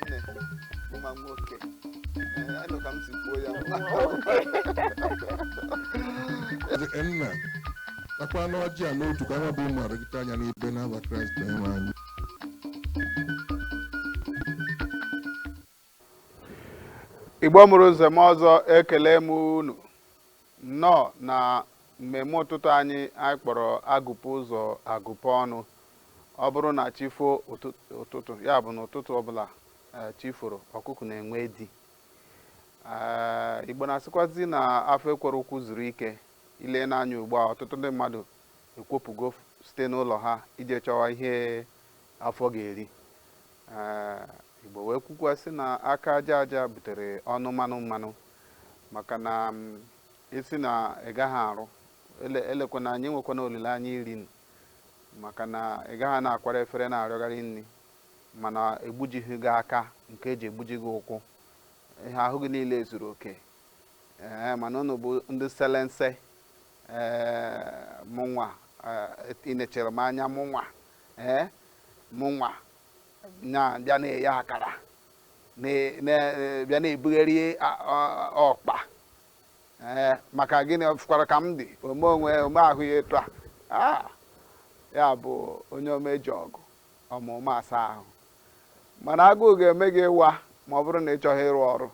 nne nwa nwoke Ee, anụ ka m si kwuo ya Ezi nna takwanụ ọjị a n'otu ka ha bụ ụmụaka gị taa ya n'ibe n'aha kraịst onyenwe anyị Igbo mụrụ nze mụọ ọzọ ekele m unu nnọọ na mmemme ụtụtụ anyị anyị kpọrọ agụpụ ụzọ agụpụ ọnụ ọ bụrụ na chi foo ụtụ- ụtụtụ ya bụ na ụtụtụ ọbụla eh, chi foro ọkụkụ na-enwe di Eh, igbo na-asịkwazi na afọ ekwerọ ụkwụ zuru ike ile n'anya ugbu a ọtụtụ ndị mmadụ ekwopụgo f- site n'ụlọ ha ije chọwa ihe afọ ga-eri Ee, Igbo wee kwukwa sị na aka aja aja butere ọnụ mmanụ mmanụ maka na m, ị sị na ị gaghị arụ ele- elekwana anya enwekwana olileanya iri nri maka na ị gaghị na-akwara efere na-arịọgharị nri mana egbujighị gị aka nke eji egbuji gị ụkwụ ihe ahụ gị niile zuru oke ee mana ụnụ bụ ndị selense mụnwa ị nechara m anya mụnwa ee mụnwa bịa na-eye akara bịa na-ebugharị ọkpa ee maka gịnị fụkwara ka m dị ome onwe o mee ahụ ya etu a ah! ya bụ onye omeji ọgụ ọmụma asa ahụ mana agụụ ga-eme gịnwa ma ọ bụrụ na ị chọghị ịrụ ọrụ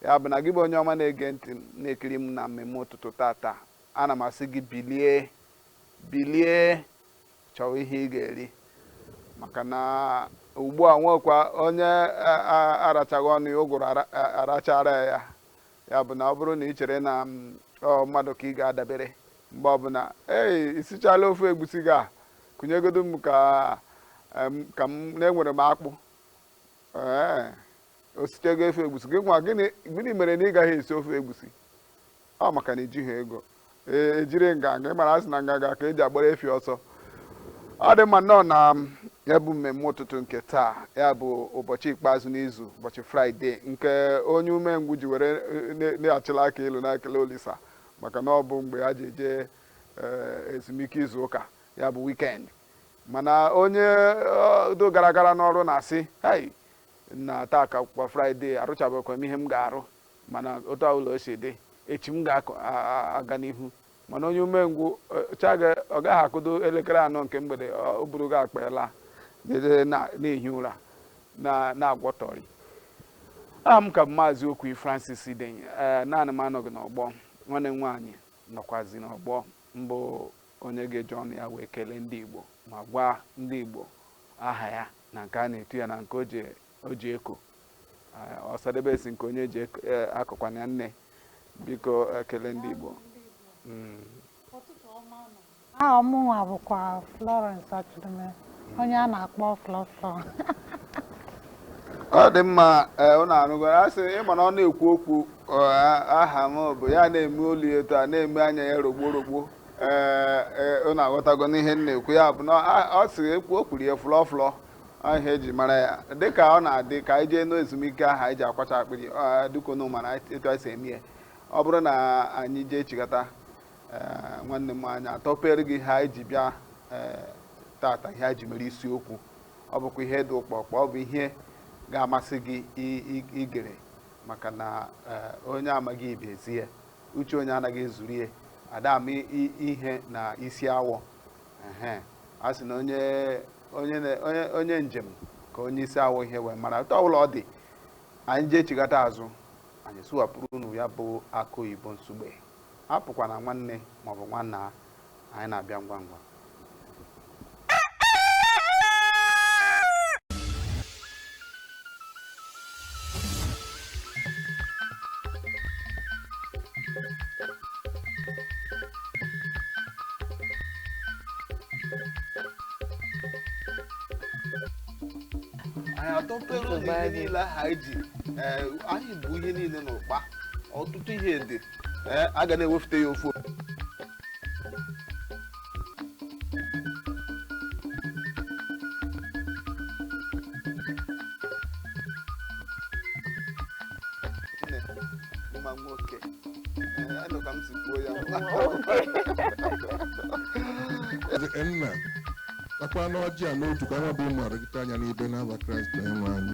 Ya bụ na gị bụ onye ọma na-ege ntị m na-ekiri m na mmemme ụtụtụ tata ana m asị gị bilie bilie chọwa ihe ị ga-eri maka na ugbu a nwekwa onye a- a- arachaghị ọnụ ya ụgụrụ ara- a- arachara ya ya bụ na ọ bụrụ na ị chere na mm, ọ mmadụ ka ị ga-adabere mgbe ọbụla ei i sichala ofe egwusi gị a kunyegodu m ka em, ka m na-enwere m akpụ ee o sichago ofe egwusi gị nwa gịnị gịnị mere na ị gaghị esi ofe egwusi ọ maka na i jighị ego ee ejiri nganga ị mara asị na nganga ka eji agbara efi ọsọ ọ dị mma nnọọ na um, ya bụ mmemme ụtụtụ nke taa ya bụ ụbọchị ikpeazụ n'izu ụbọchị fraịde nke onye umengwụ ji were e, ne- na-achịla aka elu na-ekele olisa maka na ọ bụ mgbe ha ji eje eh, ezumike izu ụka ya bụ wikendi mana onye eh, dị gara gara n'ọrụ na-asị hei na taa ka kwa fraịde arụchabekwa m ihe m ga-arụ mana otu ọbụla o si dị echi m ga-aga n'ihu mana onye umengwụ cha ọ gaghị akụdo elekere anọ nke mgbede o buru gị akpa ela na-ehi ụra na-agwọtọrị aha m ka bụ maazị okwu francis idenye ee naanị m anọghị n'ọgbọ nwanne m nwaanyị nọkwazi n'ọgbọ bụ onye ga-eji ọnụ ya wee kelee ndị igbo ma gwa ndị igbo aha ya na nke a na-etu ya na nke o ji- o ji eko Eh, ọsadebe sị nke onye ji eko- eh, akọkwana ya nne biko kelee ndị igbo Mm. aha mụnwa bụkwa Florence Achidime onye a na-akpọ Flọflọ ọ dị mma ee ụnụ anụgoro a sị ịma na ọ na-ekwu okwu ọ, a- aha m bụ ya na-eme olu ya etu a na-eme anya ya rogbo rogbo ee ee, unu aghọtago n'ihe m na-ekwu ya bụ na a- o si ekwu o kwuru ya Flọflọ ọ ihe eji mara ya dịka ọ na-adị ka anyị jee n'ezumike ahụ anyị ji akwacha akpịrị ọ, dịka unu mara etu anyị si eme ya ọ bụrụ na anyị jee chigata ee, nwanne m anyị atọpere gị ihe anyị ji bịa ee, tata ihe anyị ji mere isiokwu ọ bụkwa ihe dị ụkpọkpọ ọ bụ ihe ga-amasị gị i- i- igere maka na ee, onye amaghị ibe ezie uche onye anaghị ezuru ya ada ama i- ihe na isi awọ ehe a sị na onye onye na- onye onye njem ka onye isi awọ ihe wee mara otu ọbụla ọ dị anyị jee chigata azụ anyị sụwapụrụ unu ya bụ akụ oyibo nsugbe apụkwana nwanne maọbụ nwanna anyị na-abịa ngwa ngwa anyị atọpere unu ihe niile ahụ anyị ji ee, anyị bu ihe niile n'ụkpa ọtụtụ ihe dị ee a ga na-ewefute ya ofu Nne, mma nwoke Ee, anụ ka m si kwuo ya nna takwa n'ọjị a n'otu ka anyị bụ ụmụ gị taa ya n'ibe n'aha kraịst onye nwe anyị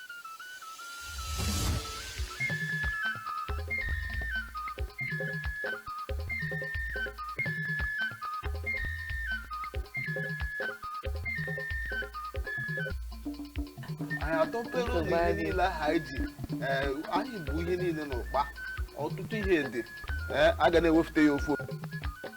anyị atọpere unu ihe niile ahụ anyị ji ee, anyị bu ihe niile n'ụkpa ọtụtụ ihe dị ee, a ga na-ewefute ya ofu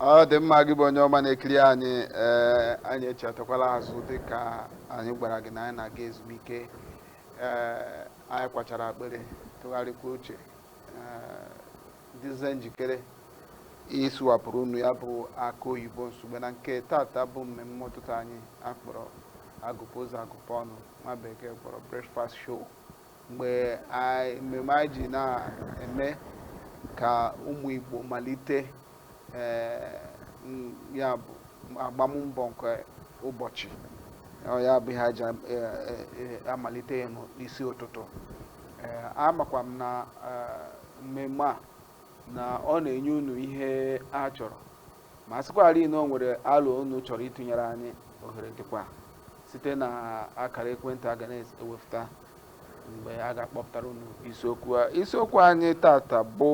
ọ dị mma gị bụ onye ọma na-ekiri anyị ee anyị echighatakwala azụ dị ka anyị gwara gị na anyị na-aga ezumike ee anyị kwachara akpịrị tụgharịkwa uche ee dịzie njikere ịsụwapụrụ unu ya bụ akụ oyibo nsogbe na nke tata bụ mmemme ụtụtụ anyị akpọrọ agụpụ ụzọ agụpụ ọnụ nwa bekee kpọrọ breakfast show mgbe mmemme anyị ji na-eme ka ụmụ Igbo malite eh, ya bụ agbammbọ nke ụbọchị ya bụ ihe e ji eh, eh, amalite ya n'isi ụtụtụ amakwa m na mmemme a na ọ na-enye unu ihe a chọrọ ma sịkwarị na o nwere alo unu chọrọ ịtụnyere anyị ohere dịkwa site na akara ekwentị a ga na-ewepụta mgbe a ga-akpọpụtara unu isiokwu a isiokwu anyị tata bụ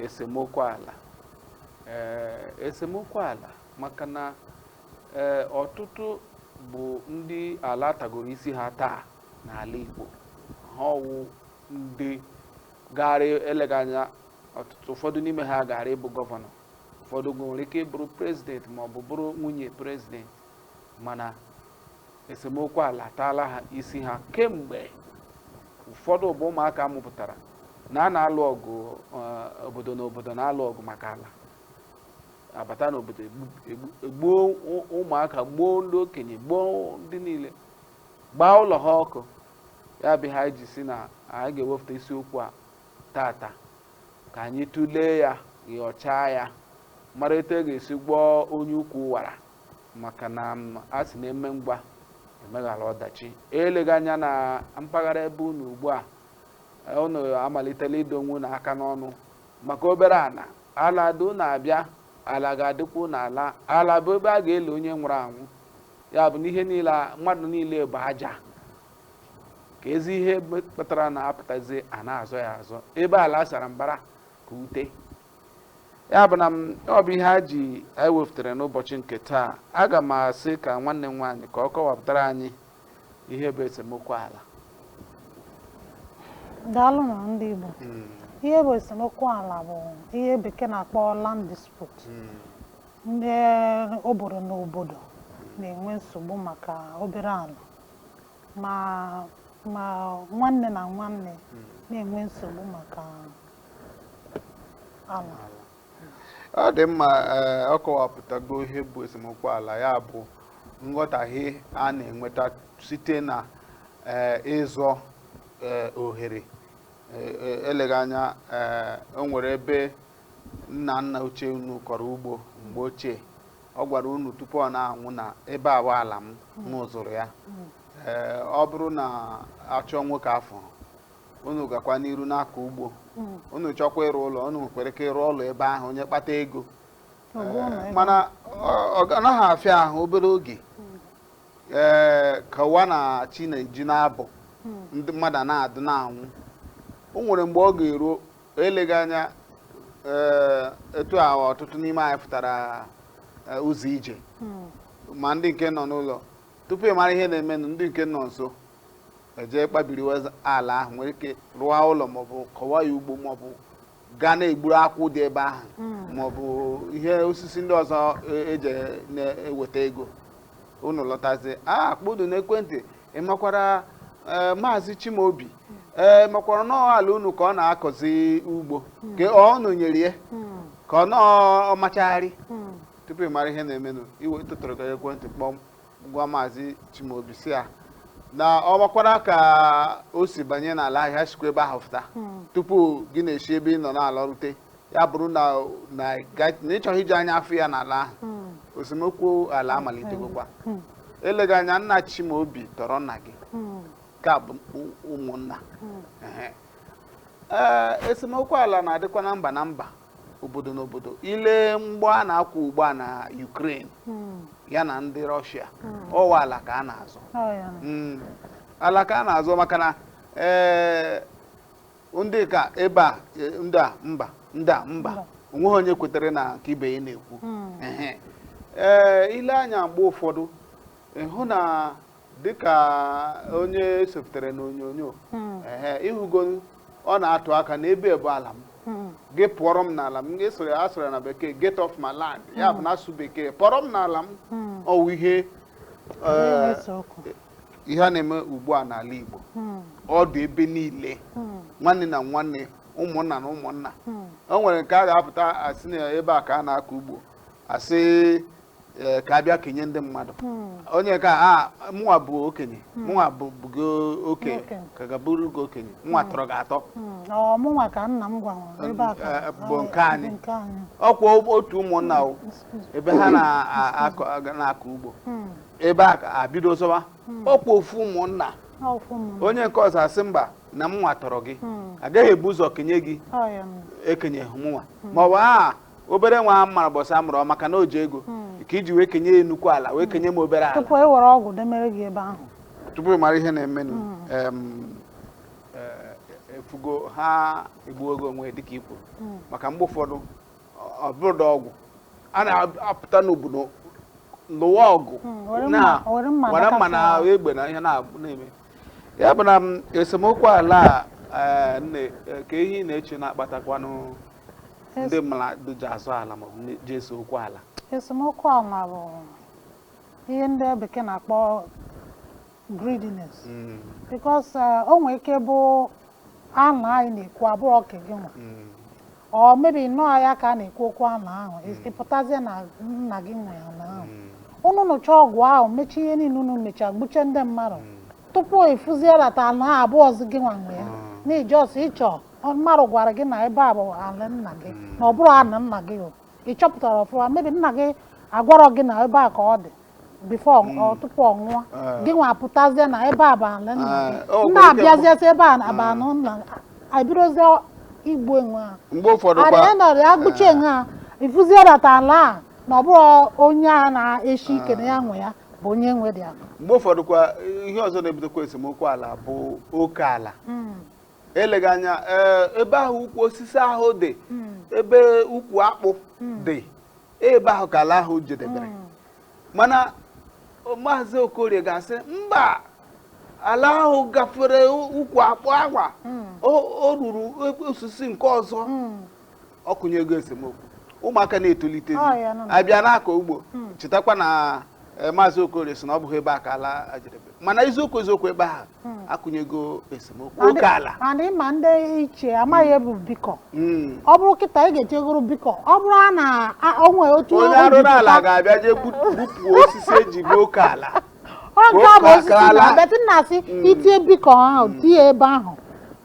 esemokwu ala ee esemokwu ala maka na ee ọtụtụ bụ ndị ala tagoro isi ha taa n'ala Igbo ha ọ wụ ndị gaara eleghị anya ọtụtụ ụfọdụ n'ime ha gaara ịbụ gọvanọ ụfọdụ oge nwere ike ịbụrụ prezident ma ọ bụ bụrụ nwunye prezident mana esemokwu ala ataala ha isi ha kemgbe ụfọdụ bụ ụmụaka a mụpụtara na a na-alụ ọgụ eh, obodo na obodo na-alụ ọgụ maka ala abata n'obodo egbu- egbu- egbuo ụ- ụmụaka gbuo ndị okenye gbuo ndị niile gbaa ụlọ ha ọkụ ya bụ ihe anyị ji sị na anyị ga-ewepụta isiokwu a tata ka anyị tụlee ya nyochaa ya mara etu a ga-esi gwọọ onye ukwu wara maka na a sị na e mee ngwa e meghara ọdachi eleghị anya na mpaghara ebe unu ugbu a unu amalitela ido onwe unu aka n'ọnụ maka obere ala ala dị unu abịa ala ga-adịkwa unu alaa ala bụ ebe a ga-eli onye nwụrụ anwụ ya bụ na ihe niile mmadụ niile bụ aja keezi ihe kpatara na a pụtazi a na-azọ ya azọ ebe ala sara mbara ka ute ya bụ na ọ bụ ihe a ji anyị wepụtara n'ụbọchị nke taa aga m asị ka nwanne m nwaanyị ka ọ kọwapụtara anyị ihe bụ esemokwu ala daalụnụ ndị Igbo hmm. ihe bụ esemokwu ala bụ ihe bekee na-akpọ land dispute hmm. ndị obodo na obodo na-enwe nsogbu maka obere ala ma ma nwanne na nwanne hmm. na-enwe nsogbu maka ala ọ dị mma eh, ọ kọwapụtago ihe bụ esemokwu ala ya bụ nghọtahie a na-enweta site na eh, ịzọ eh, ohere eleghị anya o nwere ebe nna nna ochie unu kọrọ ugbo mgbe ochie ọ gwara unu tupu ọ na-anwụ na ebe a wụ ala m m zụrụ ya ee ọ bụrụ na a chọọ nwoke afụghị unu gakwa n'iru na-akọ ugbo unu chọkwa ịrụ ụlọ unu nwekwara ike ịrụ ụlọ ebe ahụ onye kpata ego Ọ bụ ụlọ ebe mana ọ- ọ ga- anaghị afịa ahụ obere oge ee ka ụwa na chi na-eji na-abọ ndị mmadụ a na-adụ na-anwụ o nwere mgbe ọ ga-eru eleghị anya eh, etu a ọtụtụ n'ime anyị pụtara eh, ụzọ ije hmm. ma ndị nke nọ n'ụlọ tupu ị mara ihe na-emenụ ndị nke nọ nso eje kpabiri ala ahụ nwere ike rụọ ụlọ maọbụ kọwa ya ugbo maọbụ gaa na-egburu akwụ dị ebe ahụ hmm. maọbụ ihe osisi ndị ọzọ eji e na-eweta ego unu lọtazi a kpọtụ n'ekwentị ị makwara eh, maazị chimaobi ee makwara na ọ ala unu ka ọ na-akọzi ugbo ka ọ unu nyere ya ka ọ nọọ ọmachagharị tupu ị mara ihe na-emenụ i wee tụtụrụkwa ekwentị kpọọ ma gwa maazị chimaobi si ya na ọ makwara ka o si banye n'ala ahụ ya sikwa ebe ahụ fụta tupu gị na-esi ebe ị nọ na-alarute ya bụrụ na na ị ga- na ị chọghị iji anya afụ ya n'ala ahụ Hmm. esemokwu ala amalitegokwa Hmm. eleghị anya nna chimaobi tọrọ nna gị Hmm. ka bụ ụ- ụmụnna Hmm. Ehe. ee esemokwu ala na-adịkwa na mba na mba obodo na obodo i lee mgbọ a na-akwụ ugbu a na Ukraine Hmm. ya na ndị Russia Hmm. ọ wụ ala ka a na-azọ Ọ ya na. Mm. ala ka a na-azọ maka na ee ndị kaa ebe a e, ndị a mba ndị a mba onweghị onye kwetere na nke ibe ya na-ekwu Ehe. ee i lee anya mgbe ụfọdụ ị hụ na dịka onye sefutere n'onyonyo ehe ị hụgo ọ na-atụ aka na ebe a bụ ala m gị pụọrọ m n'ala m a sụrụ ya na bekee get off my land ya bụ na asụ bekee pụọrọ m n'ala m ọ wụ ihe ee, na-ese okwu ihe a na-eme ugbu a n'ala Igbo hmm. ọ dị ebe niile hmm. nwanne na nwanne ụmụnna na ụmụnna hmm. o nwere nke a ga-apụta a sị na ebe a ka a na-akọ ugbo a sị e, ka a bịa kenye ndị mmadụ onye kaa mụnwa bụ okenye mụnwa bụ gị oke- ka ga-abụrụ gị okenye mụnwa tọrọ gị atọ mụnwa ka nna m gwara ebe a bụ nke anyị ọkwa otu ụmụnna ebe ha na-akọ ugbo ebe a abido zọba ọkwa ofu ụmụnna ọkwụ m onye nke ọzọ asị mba na mụnwa tọrọ gị Hmm. agaghị ebu ụzọ kenye gị ọya m ekenye mụnwa ma ọ bụ a obere nwa a mara mbọsị a mụrụ ọ maka na o ji ego ka e ji wee kenye ya nnukwu ala wee kenye m obere ala tupu e were ọgwụ demere gị ebe ahụ tupu ị mara ihe na-emenụ em, eh, ị fụgo ha egbuogo onwe dịka i kwuru maka mgbe ụfọdụ ọ bụrụ na ọgụ a na-apụta n'obodo lụwa ọgụ hmm, na were mma na egbe na ihe na-eme ya bụ na mm, esemokwu ala eh, nne eh, kee ihe ị na-eche na-akpatakwanụ ndị mmadụ ji azọ ala maọbụ ji ese okwu ala esemokwu ala bụ ihe ndị bekee na-akpọ greediness because uh, o nwere ike bụ ana anyị na-ekwu abụrọ nke gị nwa or maybe ị nọrọ ya ka a na-ekwu okwu ana ahụ ị pụtazie na nna gị nwe ana ahụ unu nụcha ọgụ ahụ mechaa ihe niile unu mecha gbuchaa ndị mmadụ tupu ị fụzie that ana ahụ abụrọzi gị nwa nwe ya na just because mmadụ gwara gị na ebe a bụ ala nna gị na ọ bụrụ ana nna gị o ị chọpụtarọ ọfụma maybe nna gị agwarọ gị na ebe a ka ọ dị before ọ- tupu ọ nwụọ gị nwa apụtazie na ebe a bụ ala nna Ah, gị o nna nwekwara ike abịazie sị ebe a na- bụ ana nna abidozie igbu onwe ha mgbe ụfọdụ kwa adịghị nọrọ ya gbuchaa onwe ha ị fụzie that ala a na ọ bụrọ onye a na-eshi ike na ya nwe ya bụ onye nwedị ala mgbe ụfọdụ kwa ihe ọzọ na-ebutekwa esemokwu ala bụ oke ala eleghị anya ee, ebe ahụ ukwu osisi ahụ dị ebe ukwu akpụ dị ebe ahụ ka ala ahụ jedebere mana o- maazị okorie ga-asị mba ala ahụ gafere ukwu akpụ agwa o o ruru ebe osisi nke ọzọ ọ kụnyego esemokwu ụmụaka na-etolitezi Ọ ya nọ na- abịa na-akọ ugbo chetakwa na eh, maazị okorie sị na ọ bụghị ebe a ka ala jedebe mana eziokwu eziokwu ebe ahụ akụnyego esemokwu Ma ndị- oke ala ma ndị ma ndị ichie amaghị ihe bụ beacon Mm. ọ bụrụ kịta ị ga-etiyegoro beacon ọ bụrụ a na a- o nwere otu onye o ji arụrụ ala pụta- ga-abịa jee gbu- gbupụ osisi eji mee oke ala ọ nke a bụ osisi Ụkpaka ala. na but a na-asị e tinye beacon ahụ tinye ebe ahụ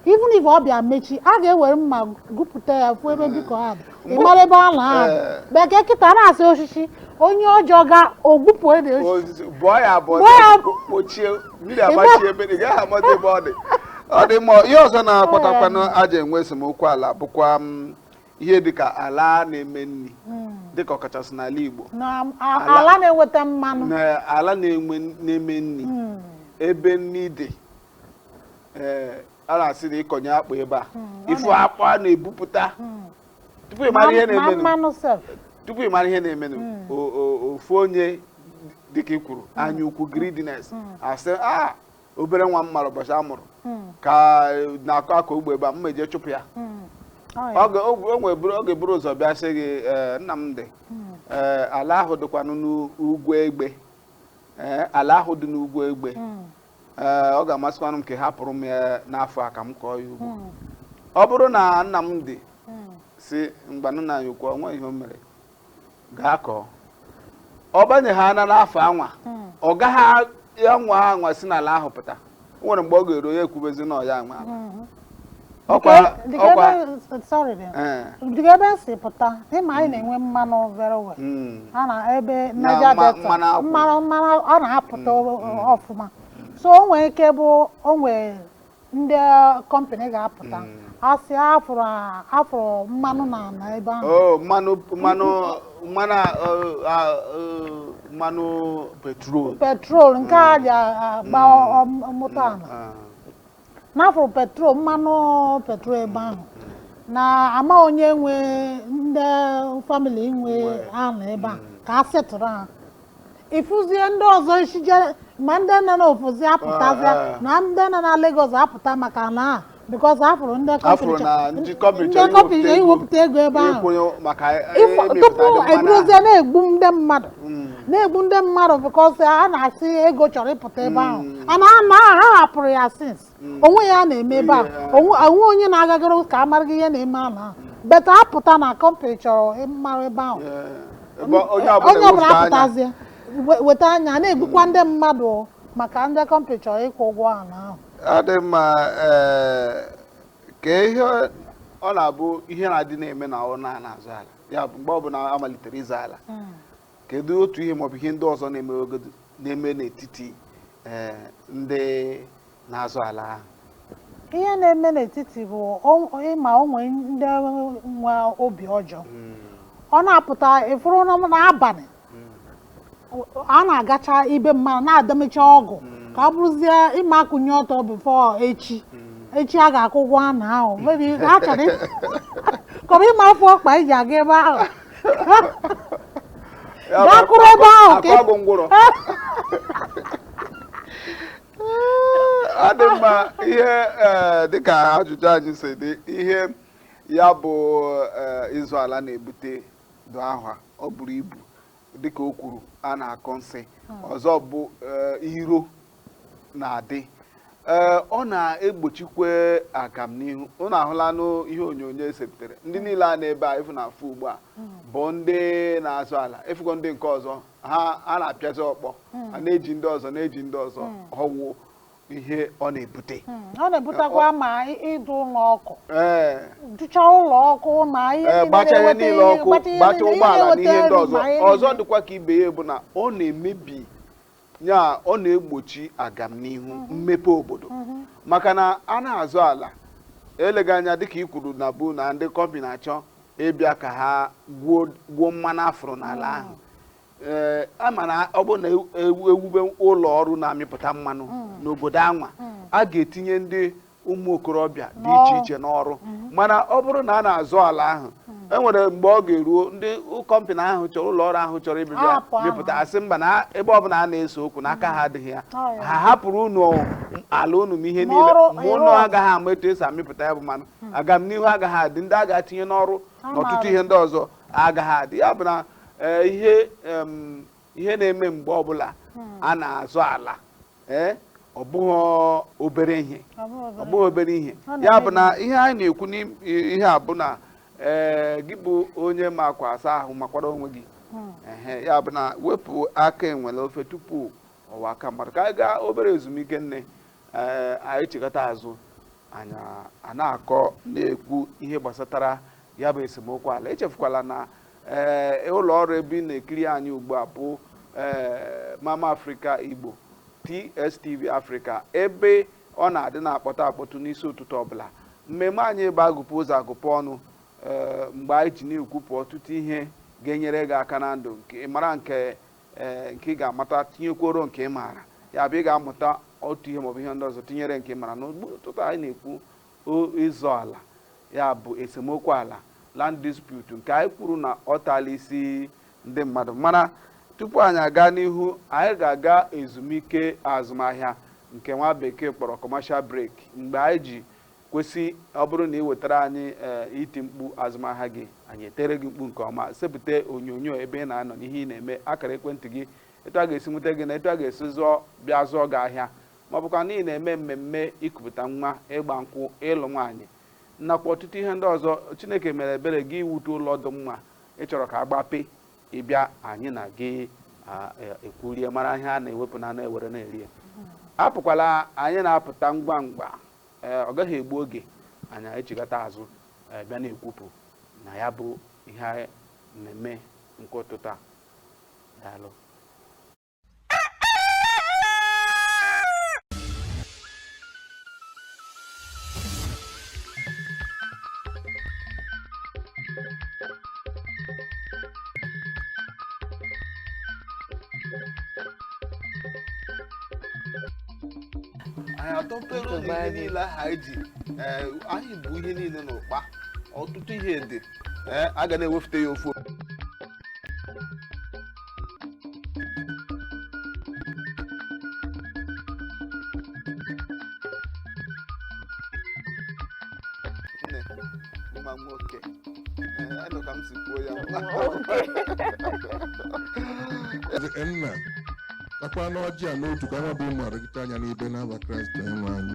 even if ọfịa mechi a ga-ewere mma gwupụta ya fụ ebe beacon ahụ dị ị mara ebe ala ahụ dị. Eh. but kịta na-asị osisi onye ọjọọ ga-egbupụdị osisi Osisi, bọọ ya abọọ Bọọ ya abọọ. kpochie mmiri agbachie ebe ị gaghị amata ebe ọ dị ọ dị mma ihe ọzọ na-akpatakwanụ e ji enwe esemokwu ala bụkwa m ihe dị ka ala na-eme nri dị ka ọkachasị n'ala Igbo na a- Ala- ala na-enweta mmanụ na ala na-enwe na-eme nri Mm, ebe nri dị ee a na-asị na ịkọnye akpụ ebe a ịfụ akpụ a na-ebupụta mm. tupu ị mara ihe Ma- ma na-emenụ mmanụ sef tupu ị mara ihe na-emenụ o- o- ofu onye dịka ị kwuru anya ukwu greediness asị a obere nwa m mara ụbọchị a mụrụ hmm. ka e, na-akọ akọ ugbo ebe a m ma-eje chụpụ ya hmm. ọ ga-eburu ụzọ bịa sị gị e, Nnamdị hmm. e, ala ahụ dịkwanụ n'ugwu egbe ala ahụ dị n'ugwu egbe ọ ga-amasịkwanụ m ka ị hapụrụ m ya n'afọ a ka m kọọ ya ugbo ọ bụrụ na Nnamdị sị ngwanụ nna anyị ukwu o nweghị ihe o mere gaa kọọ ọ banyeha ana n'afọ anwa hmm. ọ gaghị anwa anwa si n'ala ahụ pụta o nwere mgbe ọ ga-eru ya ekwubezi na ọ ya nwe ala hmm. dịka ebe si pụta ị ma anyị na-enwe mmanụ very well hmm. a na ebe Niger Delta mmanụ ọ na-apụta ọfụma so o nwere ike bụ o nwere ndị company ga-apụta asị na a fụrụ mmanụ na ala ebe ahụ Oh, mmanụ mmanụ mmanụ a- ọ- a- ọ- mmanụ petrol petrol nke e ji agba moto ala Ah, na a fụrụ petrol mmanụ petrol ebe ahụ na a ma onye nwe ndị family nwe ala ebe a ka a settle ha ị fụzie ndị ọzọ ishije ma ndị nọ n'ofesi apụtazịa Ah, ah. na ndị nọ na Lagos apụta maka ana a because ha fụrụ ndị a fụrụ na ndị company ndị company iwepụta ego ebe ahụ ịkwụnye maka Ịfụ- emepụta tupu ndị mmanụ ebidozie na-egbu ndị mmadụ Mm. na-egbu ndị mmadụ because ha na-asị ego chọrọ ịpụta ebe ahụ Mm. ana ha hapụrụ ya since o nweghị ihe a na-eme ebe a o nwe o nweghị onye na-agagara ka a mara gị ihe na-eme ala ahụ but apụta na company chọrọ ịmara ebe ahụ Ebe onye onye ọbụla ọbụla wepụta anya. apụtazie we- weta anya na-egbukwa ndị mmadụ maka ndị company chọrọ ịkwụ ụgwọ ala ahụ ọ dị mma ee, kee ihe ọ na-abụ ihe na-adị na-eme na ọ na-azọ ala ya bụ mgbe ọbụla a malitere ịzọ ala kedu otu ihe maọbụ ihe ndị ọzọ na-emegodu na-eme n'etiti eh, ndị na-azọ ala ahụ ihe na-eme n'etiti bụ o- ị ma o nwee ndị nwe obi ọjọọ ọ na-apụta ịfụrụ na n'abalị a na-agacha ibe mmadụ na-adọmecha ọgwụ ka ọ bụrụzie ị ma-akunyi ọtọ before echi echi a ga-akwụ ụgwọ ana ahụ maybe ha chọrọ ị- ka ọ bụrụ ị ma-afụ ọkpa i ji aga ebe ahụ Ya bụ, Gakwuru ebe ahụ ka ị- akwa bụ ngwụrọ ọ dị mma ihe eh, dịka ajụjụ anyị si dị ihe ya bụ eh, ịzọ ala na-ebute dụ ahụ o buru ibu dịka o kwuru a na-akọ nsi ọzọ bụ eh, iro na-adị ee ọ na-egbochikwa agamnihu unu ahụlanụ ihe onyonyo e sepụtara ndị niile a n'ebe a ị fụ na-afụ ugbu a bụ ndị na-azọ ala ị fụgo ndị nke ọzọ ha na-apịazi ọkpọ a na-eji ndị ọzọ na-eji ndị ọzọ ọ wụ ihe ọ na-ebute Mm, ọ na-ebutekwa ma ị- ịdụ ụlọ ọkụ ee dụcha ụlọ ọkụ na ihe ee niile gbacha ihe na-eweta niile ihe- ọkụ gbata ihe gbacha niile, ihe ụgbọala na na-eweta ihe ndị nri ọzọ ma ihe ọzọ niile. dịkwa ka ibe ya bụ na ọ na-emebi ya ọ na-egbochi agamnihu mhm. mmepe obodo mhm. maka na a na-azọ ala eleghị anya dịka i kwuru na bụ na ndị kọmpanị na-achọ ịbịa ka ha gwuo mmanụ a fụrụ n'ala mhm. ahụ ee eh, a ma na ọ bụrụ na e wube ụlọ ọrụ na-amịpụta mmanụ n'obodo anwa a ga-etinye ndị ụmụ okorobịa dị iche iche n'ọrụ mhm. mana ọ bụrụ na a na-azọ ala ahụ mhm. e nwere mgbe ọ ga-eruo ndị kọmpanị ahụ chọrọ ụlọ ọrụ ahụ chọrọ ịbị- ịbịa mịpụta asị mba na ebe ọ bụla a na-ese okwu na aka ha mhm. adịghị ya ha hapụrụ unu ala unu ma ihe niile ma unu agaghị ama etu e si amịpụta ya bụ mmanụ agamnihu agaghị adị ndị a ga-etinye n'ọrụ na ọtụtụ ihe ndị ọzọ agaghị adị ya bụ na eh, ihe ihe na-eme mgbe ọbụla a na-azọ ala ee ọ bụghị obere ihe ọ bụghị obere ihe ya bụ na ihe anyị na-ekwu n'ihe a bụ na ee gị bụ onye ma akwa asa ahụ makwara onwe gị hmm. ee ya bụ na wepụ aka enwe n'ofe tupu ọ ghọọ aka mmadụ ka anyị gaa obere ezumike nne ee anyị chighata azụ anyị a na-akọ na-ekwu ihe gbasatara ya bụ esemokwu ala echefukwala na ee ụlọ ọrụ ebe ị na-ekiri anyị ugbu a bụ ee mama afrịka igbo tstv afrịka ebe ọ na-adị na-akpọtụ akpọtụ n'isi ụtụtụ ọbụla mmemme anyị bụ agụpụ ụzọ agụpụ ọnụ ee mgbe anyị ji na-ekwupụ ọtụtụ ihe ga-enyere gị aka na ndụ nke ị mara nke ee nke ị ga-amata tinyekwuoro nke ị maara ya bụ ị ga-amụta otu ihe maọbụ ihe ndị ọzọ tinyere nke ị maara n'ụtụtụ anyị na-ekwu O ịzọ ala, ya bụ esemokwu ala, land dispute, nke anyị kwuru na ọ taala isi ndị mmadụ. Mana tupu anyị aga n'ihu, anyị ga-aga ezumike azụmahịa nke nwa bekee kpọrọ commercial break mgbe anyị ji ekwu sị ọ bụrụ na ị wetara anyị eh, iti mkpu azụmahịa gị anyị etiere gị mkpu nke ọma sepụta onyonyo ebe ị na-anọ na ihe ị na-eme akara ekwentị gị etu a ga-esi nweta gị na etu a ga-esi zụọ bịa zụọ gị ahịa ma ọ bụkwa na ị na-eme mmemme ikupụta nwa ịgba nkwụ ịlụ nwaanyị nakwa ọtụtụ ihe ndị ọzọ chineke mere ebere gị i wute ụlọ dị mma ị chọrọ ka a gbapee ị bịa anyị na gị ekwurie mara ihe a na-ewepụ n'anụ ewere na-eri ya apụkwala anyị na-apụta ngwa ngwa ọ gaghị egbu oge anyị echigata azụ bịa na-ekwupụ na ya bụ ihe mmemme nke ụtụtụ a daalụ anyị atọpere ụnụ ihe niile ahụ anyị ji ee, anyị bu ihe niile n'ụkpa ọtụtụ ihe dị ee, a ga na-ewefute ya ofu nne mma nwoke ee anụ ka m si kwuo ya Ezi nna takwanụ ọjị a n'otu ka anyị bụ ụmụ oru gị taa ya n'ibe n'afa kraịst onyenwe anyị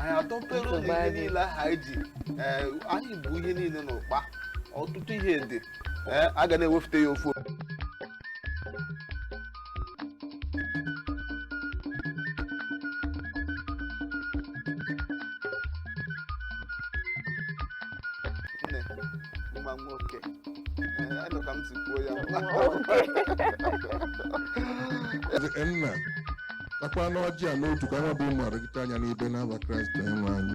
anyị atọpere ụnụ ihe niile ahụ anyị ji ee, anyị bu ihe niile n'ụkpa ọtụtụ ihe dị ee, a ga na-ewefute ya ofu nne nwa nwoke Ee, anụ ka m si kwuo ya Ezi nna takwanụ ọjị a n'otu ka anyị bụ ụmụ oru gị taa ya n'ibe n'afa kraịst onyenwe anyị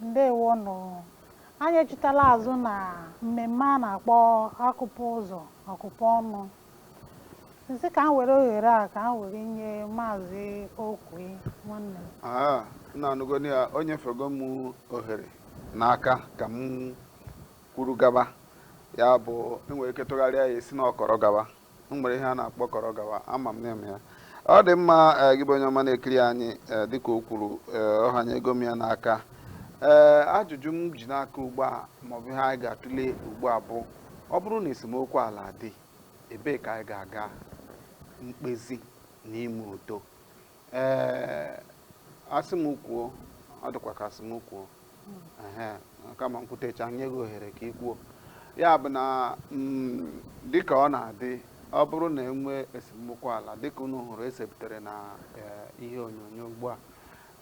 ndewo nụ anyị echitala azụ na mmemme a na-akpọ akụpụ ụzọ akụpụ ọnụ m sị ka m were ohere a ka m were nye maazị okwe nwanne m Ah, nna anụgoni ya o nyefego m ohere n'aka ka m kwuru gaba ya bụ e nwere ike tụgharịa ya sị na ọ kọrọ gaba m nwere ihe a na-akpọ kọrọ gawa ama m ndị na-eme ya ọ dị mma eh, gị bụ onye ọma na-ekiri anyị eh, dịka o kwuru eh, ọ hanyego m ya n'aka ee ajụjụ m ji n'aka ugbu a maọbụ ihe anyị ga-atụle ugbu a bụ ọ bụrụ na esemokwu ala dị ebee ka anyị ga-aga mkpezi na ime udo ee asị m kwuo ọ dịkwa ka asị m kwuo kama m kwutecha nye gị ohere ka ị kwuo ya bụ na mm, dịka ọ na-adị ọ bụrụ na enwe esemokwu ala dịka unu hụrụ esepụtara na e, ihe onyonyo ugbu a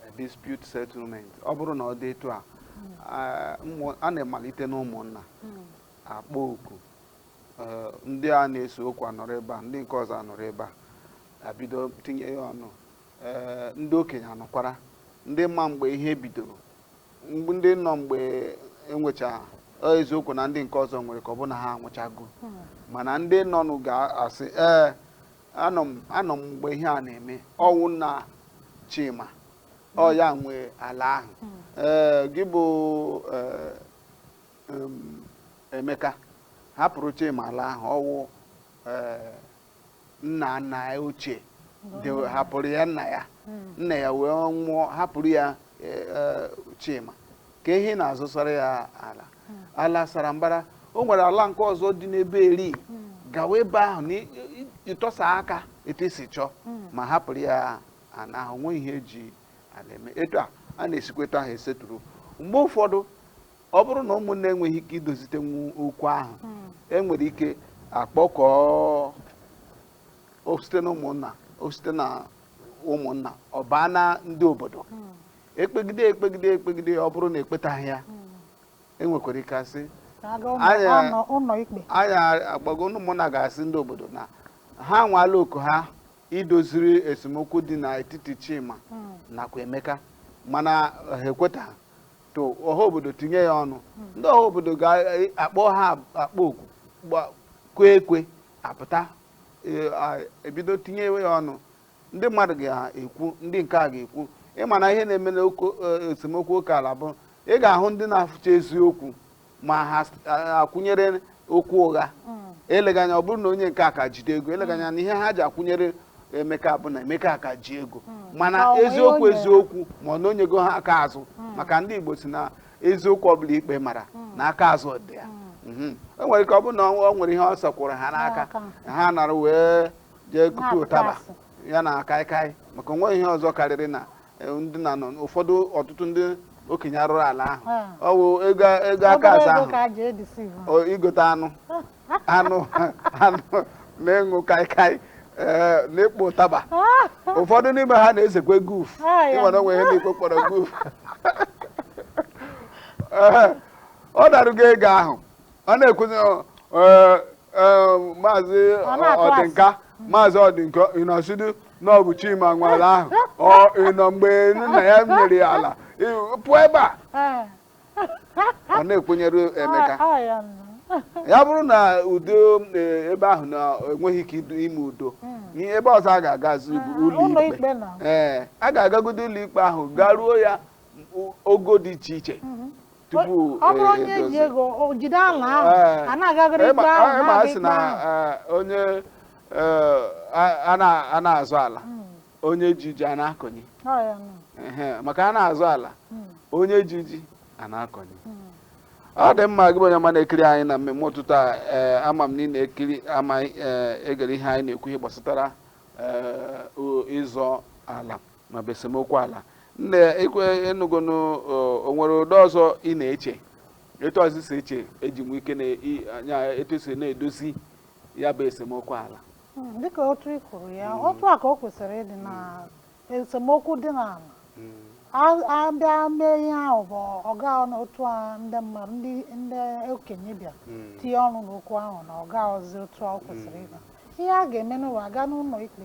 e, dispute settlement ọ bụrụ na ọ dị etu a a na-emalite n'ụmụnna hmm. akpọọ oku e, ndị a na-ese okwu anọrọ ebe a ndị nke ọzọ anọrọ ebe a abido tinye ya ọnụ ee ndị okenye anọkwara ndị ma mgbe ihe bidoro mgbe ndị nọ mgbe enwecha ọ eziokwu na ndị nke ọzọ nwere ike ọ bụ na ha anwụchago mana ndị nọnụ ga-asị ee anọ m anọ m mgbe ihe a na-eme ọwụ nna Chima ọ ya nwe ala ahụ ee gị bụ ee, em, Emeka hapụrụ Chima ala ahụ ọwụ ee, nna nna ya ochie hapụrụ ya nna ya hmm. nna ya wee nwụọ hapụrụ ya e, e, Chima kee ihe ị na-azọsara ya ala hmm. ala sara mbara o nwere ala nke ọzọ dị n'ebe eri hmm. gawa ebe ahụ na ịtọsa aka etu i si chọọ ma hapụrụ ya ana ahụ nwe ihe eji ala eme etu a a na-esi ekwu etu ahụ e settle mgbe ụfọdụ ọ bụrụ na ụmụnna enweghị ike idozitenwu okwu ahụ hmm. enwere ike akpọkọọ o site na ụmụnna o site na ụmụnna ọ baa na ndị obodo hmm. ekpegide ekpegide ekpegide ọ bụrụ na ekpetaghị ya hmm. enwekwara ike asị anyị agbago ụmụnna ga-asị ndị obodo na ha anwaala oko ha idoziri esemokwu dị n'etiti Chima nakwa Emeka mana ha ekwetaghị to ọha obodo tinye ya ọnụ ndị ọha obodo ga-akpọ ha akpọọ oku gba- kụọ ekwe apụta e- a- ebido tinye ya ọnụ ndị mmadụ ga-ekwu ndị nke a ga-ekwu ị ma na ihe na-eme n'oke e, esemokwu oke ala bụ ị ga-ahụ ndị na-afụcha eziokwu ma ha akwụnyere okwu ụgha hmm. eleghị anya ọ bụrụ na onye nke a ka jide ego eleghị anya na ihe ha ji akwụnyere emeka bụ na emeka ka ji ego hmm. mana eziokwu eziokwu ma ọ na o nyego ha aka azụ hmm. maka ndị igbo si na eziokwu ọbụla ikpe mara na aka azụ dị ya mhm. o nwere ike ọ bụrụ na o nwere ihe ọ sọkwụrụ ha n'aka ha nara wee jee kupu ụtaba ya na kaikai maka o nweghị ihe ọzọ karịrị na eh, ndị na nọ ụfọdụ ọtụtụ ndị okenye arụrụala ahụ Ah. ọ wụ ego ego aka Obere azụ ego ahụ ka a ji e deceive o, igote anụ anụ anụ na ịṅụ kaikai eh, na ikpo ụtaba ụfọdụ n'ime ha na-esekwa guf Ah, ya. ịnwere onwe ihe n'ikpe kpọrọ guf Ehe, ọ darugo ego ahụ ọ na-ekwuzi ọ, eh, eh, maazị Ọ na-atụ asị. ọdịnka maazị ọdịnka ị nọsịdị na ọ bụ chima nwe ala ahụ ọ ị nọ mgbe nna ya mere ala ị- pụọ ebe a Ee. ọ na-ekwenyere emeka Ọ- ọ ya nọ. ya bụrụ na udo eh, ebe ahụ na enweghị ike idu- ime udo ihe ebe ọzọ a ga-agazi bụ ụlọ ụlọ ikpe ikpe na ee a ga-agagodo ụlọ ikpe ahụ garuo ya o- ogo dị iche iche tupu ọ bụrụ eh, onye ji ego o jide ala ahụ Eh, a na-agagharị ịma- ikpe ahụ ịma na-aga asị ikpe na ahụ eh, onye eh, a- a na- a na-azọ ala onye ji ji a na-akọnye Ọ ya nọ. Ehe, maka a na-azọ ala Mm. onye ji ji a na-akọnye ọ dị mma gị bụ onye ọma na-ekiri anyị na mmemme ụtụtụ a ee ama m na ị na-ekiri ma ee, egere ihe anyị na-ekwu ihe gbasatara ee, o- ịzọ ala ma ọ bụ esemokwu ala nne ekwe enugonu o nwere ụdị ọzọ ị na-eche etu ọzọ ị si eche eji nwee ike na-anya etu si na-edozi ya bụ esemokwu ala hmm, dịka otu ị kwuru ya hmm. otu a ka o kwesịrị ịdị na esemokwu dị n'ala a bịa hmm. mee ihe ahụ bụ ọ ga otu a ndị mmadụ ndị okenye bịa tinye ọnụ n'okwu ahụ na ọ gaghịzi otu o kwesịrị ịga ihe a ga-emenụ bụ a gaa n'ụlọ ikpe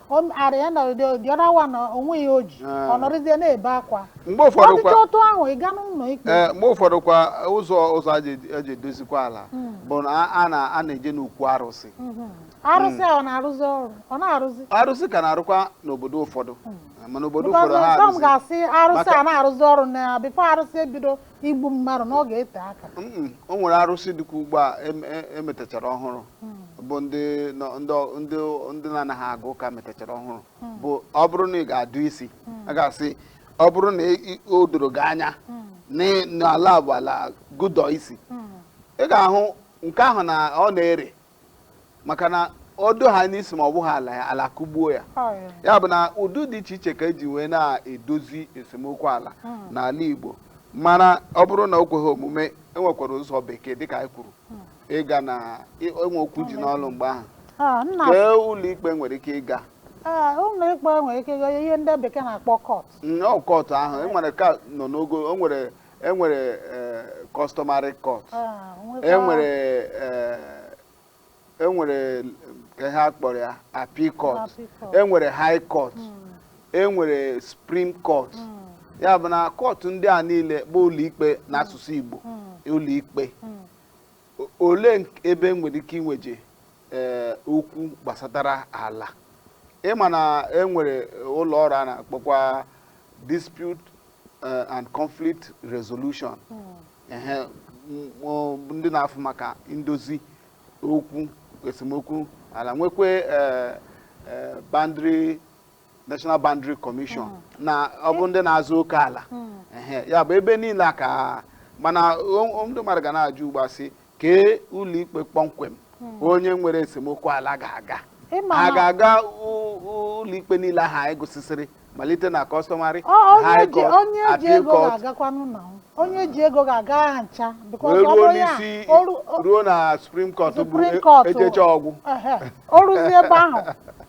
O m- at the end of the day the other one o nweghị ihe o ji Ah. ọ nọrọzie na-ebe akwa mgbe ọ ụfọdụ dịcha kwa otu ahụ ị gaa n'ụlọ ikpe ee mgbe ụfọdụ kwa ụzọ ụzọ a ji- a ji edozikwa ala bụ na a- a na- a na-eje n'okwu arụsị Mhm. arụsị a ọ na-arụzi ọrụ ọ na-arụzi arụsị ka na-arụkwa n'obodo ụfọdụ mana obodo Because ụfọdụ ha some arụsị ga-asị arụsị Maka- anaghị arụzi ọrụ na before arụsị ebido igbu mmadụ na ọ ga-ete aka Mm, o nwere arụsị dịkwa ugbu a em- e- emetachara ọhụrụ bụ ndị nọ- ndị ọ- ndị ndị na-anaghị aga ụka metachara ọhụrụ bụ ọ bụrụ na ị ga-adụ isi a ga-asị ọ bụrụ na ị- ị- o doro gị anya na ị- na ala bụ ala gị dụọ isi ị ga-ahụ nke ahụ na ọ na-ere maka na ọ dụọ ha n'isi ma ọ bụghị ala ya ala kụgbuo ya ya bụ na ụdị dị iche iche ka eji wee na-edozi esemokwu ala hmm. n'ala Igbo mana ọ bụrụ na o kweghị omume enwekwara ụzọ bekee dịka anyị kwuru hmm. ịga na enwe okwu ji n'ọlụ mgbe ahụ ah, kee ụlọikpe nwere ike ịga ah, ụlọikpe nwere ike ịga ihe ndị bekee na-akpọ court nnọọ court ahụ enwere ka nọ n'ogo o nwere e nwere eh, customary court Ah, nwekwa- e nwere eh, e nwere ka ihe a kpọrọ ya appeal court Appeal court. e nwere high court e nwere supreme court ya bụ na court ndị a niile bụ ụlọikpe n'asụsụ igbo ụlọikpe O- olee nk- ebe e nwere ike iweje eh, okwu gbasatara ala ị ma na e nwere ụlọ ọrụ a na-akpọkwa dispute eh, and conflict resolution ehe m- ọ- ndị na-afụ maka ndozi okwu esemokwu ala nwekwe eh, eh, boundary national boundary commission na ọ bụ ndị na-azọ oke ala ehe ya bụ ebe niile a ka mana o- o- ndị mmadụ ga na-ajụ ugbu a sị kee ụlọikpe kpọmkwem hmm. onye nwere esemokwu ala ga-aga a ga-aga ụlọikpe niile ahụ anyị gụsịsịrị malite na customary high court appeal court onye ji ego ga-aga ha ncha ruo n'isi ruo na supreme court bụ ejechaa ọ gwụ o ruzie ebe ahụ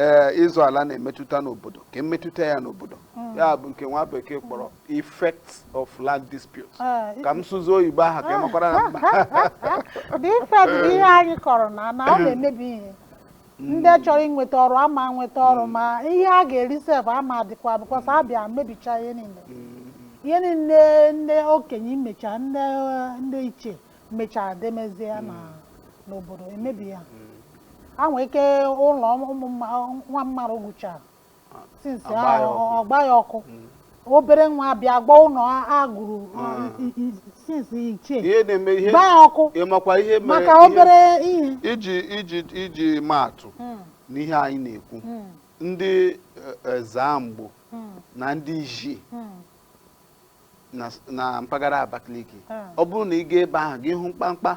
ee ịzọ ala na-emetụta n'obodo kee mmetụta ya n'obodo hmm. ya bụ nke nwa bekee kpọrọ effect of land dispute ah, ka m sụzie oyibo ahụ ka ị makwara na mma the effect bụ ihe anyị kọrọ na na ọ na-emebi ihe hmm. ndị chọrọ inweta ọrụ ama nweta ọrụ hmm. ma ihe a ga-eri sef ama dịkwa because a bịa mebicha ihe niile ihe niile ndị okenye mecha ndị ichie mechara demezie ya na n'obodo emebi ya a nwee ike ụlọ ụmụ mma- nwa mmadụ gụchara since a gba ya ọkụ. ọ gba ya ọkụ obere nwa bịa gba ụlọ a gụrụ since ichie ihe na-eme ihe gba ya ọkụ ị makwa ihe mere maka ihe- obere ihe iji iji iji maatụ Mm, n'ihe anyị na-ekwu mm, ndị eh, Ezzamgbo mm, na ndị Izzi mm. na s- na mpaghara Abakaliki Mm. ọ bụrụ na ị gaa ebe ahụ gị hụ mkpamkpa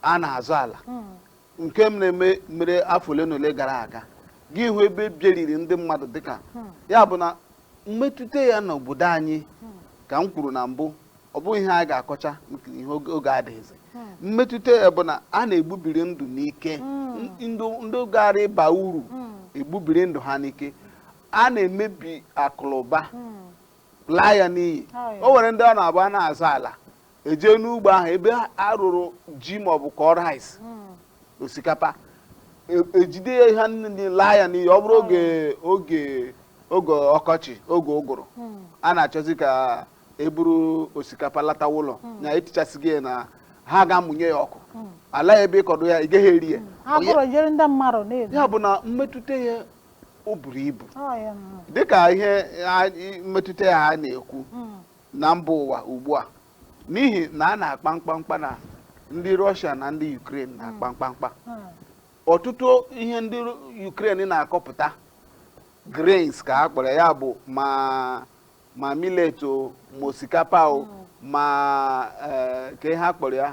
a na-azọ ala Mm. nke m na-eme mere afọ ole na ole gara aga gị hụ ebe e bieriri ndị mmadụ dịka Mm. ya bụ na mmetụta ya n'obodo anyị Mm. ka m kwuru na mbụ ọ bụghị ihe a ga-akọcha maka ihe oge oge adịghịzi Mm. mmetụta ya bụ na a na-egbubiri ndụ n'ike Mm. N- ndụ ndị gaara ịba uru Mm. e gbubiri ndụ ha n'ike a na-emebi akụlụba Mm. laa ya n'iyi o nwere ndị ọ na-abụ a na-azọ ala e je n'ugbo ahụ ebe a rụrụ ji maọbụ kọọ rice hmm. osikapa e- ejide ya ihe niile laa ya n'iyi ọ bụrụ oge oge oge ọkọchị oge ụgụrụ hmm. a na-achọzi ka e buru osikapa latawa ụlọ hmm. na etichasịghị ya na ha ga-amụnye ya ọkụ ala ebe ị kọdụ ya ị gaghị eri ya ya bụ na mmetụta ya o buru ibu dịka ihe mmetụta ya a na-ekwu hmm. na mba ụwa ugbu a n'ihi na a na-akpa mkpamkpa na ndị Russia na ndị Ukraine na-akpa hmm. mkpamkpa hmm. ọtụtụ ihe ndị Ukraine na-akọpụta grains ka a kpọrọ ya bụ ma ma millet o ma osikapa o ma eh, kee ihe a kpọrọ ya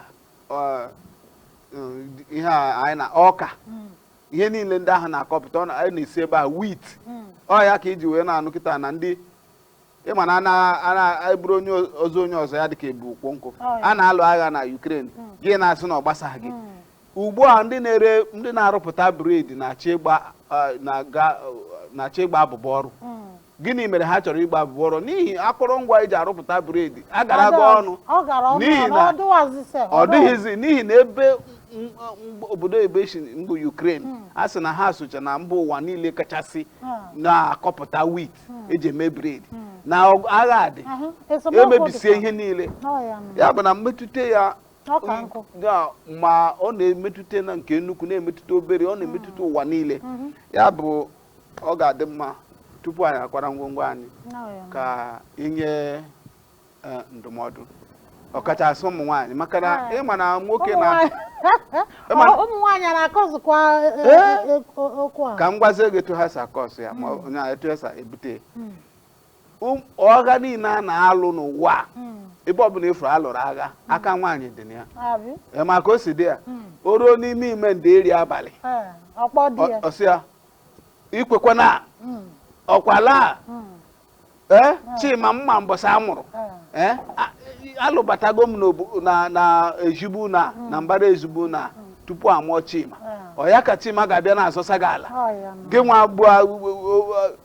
eh, ihe anyị na ọka ihe niile ndị ahụ na-akọpụta ọ na- a na-esi ebe ahụ wit ọ ya ka e ji wee na-anụ kịta na ndị ịma na ana- ana- e buru ozu onye ọzọ ya dịka e bu ukwu nkụ Ọ ya. a na-alụ agha na Ukraine gị na-asị na ọ gbasaghị gị ugbu a ndị na-ere ndị na-arụpụta bred na-achọ ịgba ah, na-aga- na-achọ ịgba abụbọ ọrụ gịnị mere ha chọrọ ịgba abụbọ ọrụ n'ihi akụrụngwa eji arụpụta bred agarago ọnụ ọ gara ọnụ N'ihi ọnụ, na- ọ dịwazi sef, ọ dịwazi. dịghịzi n'ihi na ebe m- m- obodo ebe si mbụ Ukraine a sị na ha socha na mba ụwa niile kachasị na-akọpụta wit eji eme bred na ọgụ- agha a dị Ahụ, esemokwu emebisie dịkwa. ihe niile Ọ ya nụ. ya bụ na mmetụta ya Ọ ka nkụ. ya ma ọ na-emetụta na nke nnukwu na-emetụta obere ọ na-emetụta ụwa niile ya bụ ọ ga-adị mma tupu anyị akwara ngwongwo anyị ka i nye e, ndụmọdụ ọkachasị ụmụ nwaanyị maka na ịma na nwoke na ụmụ nwaanyị na-akọsụkwa e, e, okwu a ka m gwazie gị etu ha si akọsụ ya ma hmm. onye etu ha si ebute hmm. Um, ọgha niile a na-alụ n'ụwa a, ebe ọbụla ị fụrụ a lụrụ agha aka nwaanyị dị na ya Abi. Ee, maka ọ sị di ya o ruo n'ime ime ndeeri abalị Eh, Ọ kpọọ di ya. ọ- ọ sị ya i kwekwana okwu ala a, ee chima m ma mbọsị a mụrụ Eh, ee a- alụbatago m n'obu- na na ezi be unu na mbara ezi be unu tupu a mụọ chima ọ ya ka chima ga-abịa na-azọsa gị ala Ọ ya nụ. gị nwa abụọ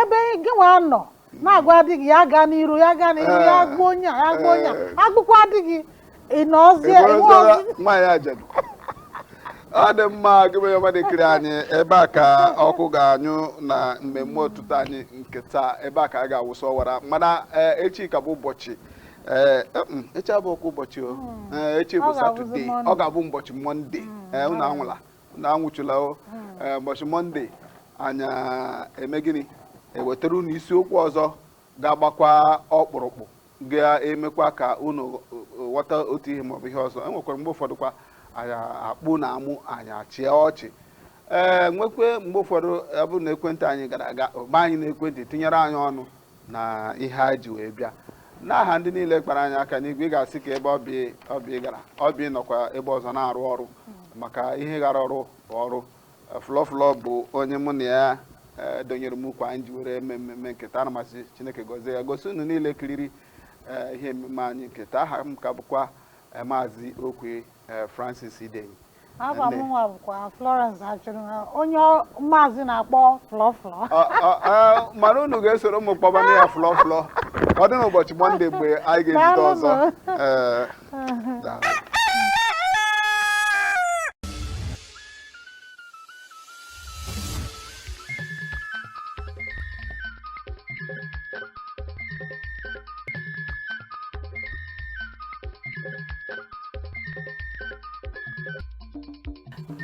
ebe gịnwa nọ na-agwa di gị ya gaa n'iru ya gaa n'iru ya Eh. gbuo onye a ya gbuo onye a Eh. e gbukwa di gị ị nọzie Ị enwe bụrụziela ọzi nwaanyị ajadu ọ dị mma gị bụ onye ọma na-ekiri anyị ebe a ka ọkụ ga-anyụ na mmemme ụtụtụ anyị nke taa ebe a ka a ga-awụsa ọwara mana eh, echi ka bụ ụbọchị eh, eh, mm, echi abụọkwa ụbọchị o Eh, echi Ọ bụ ga-abụzi satọde Mọnde. ọ ga-abụ ụbọchị mọnde Eh, unu anwụla unu anwụchula o ee, ụbọchị mọnde anyị eme gịnị ewetara unu isiokwu ọzọ ga-agbakwa ọkpụrụkpụ ga-emekwa ka unu eh, ghọta otu ihe maọbụ ihe ọzọ enwekwara mgbe ụfọdụ kwa anyị akpụ na amụ anyị achịa ọchị ee nwekwe mgbe ụfọdụ ọ bụrụ na ekwentị anyị gara aga gba anyị n'ekwentị tinyere anyị ọnụ na ihe anyị ji wee bịa n'aha ndị niile kpara anyị aka n'igwe ị ga-asị ka ebe ọbịa gara ọbịa nọkwa ebe ọzọ na-arụ ọrụ maka ihe gara ọrụ bụ ọrụ flọflọ bụ onye mụ na ya e, donyere m ukwu anyị ji were eme mmemme nke taa ana m asị chineke gọzie ya gọzie unu niile kiriri e, ihe mmemme anyị nke taa aha m ka bụkwa e, maazị okwe francis idenyi Afa Nne. mụnwa bụkwa Florence Achụnụha, onye ọ- maazị na-akpọ flọflọ. Ọ- ọ- ọ, mana unu ga-esoro mụ kpọbanụ ya flọ flọ ka ọ dị n'ụbọchị mọnde mgbe anyị ga-ezute ọzọ Daalụnụ. Ee, daalụ.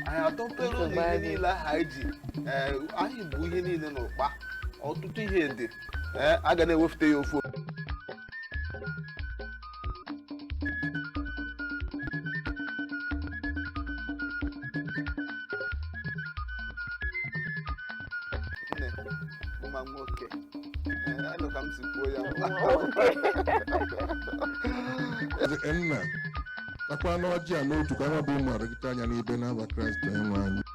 anyị atọpere ụlọ Nsogbu ihe adịghị. niile ahụ anyị ji ee, anyị bu ihe niile n'ụkpa ọtụtụ ihe dị ee, a ga na-ewefute ya ofu nne mma nwoke Ee, anụ ka m si kwuo ya Eze nna takwanụ ọjị a n'otu ka anyị bụ ụmụ oru gị taa ya n'ibe n'aha Kraịst onyenwe anyị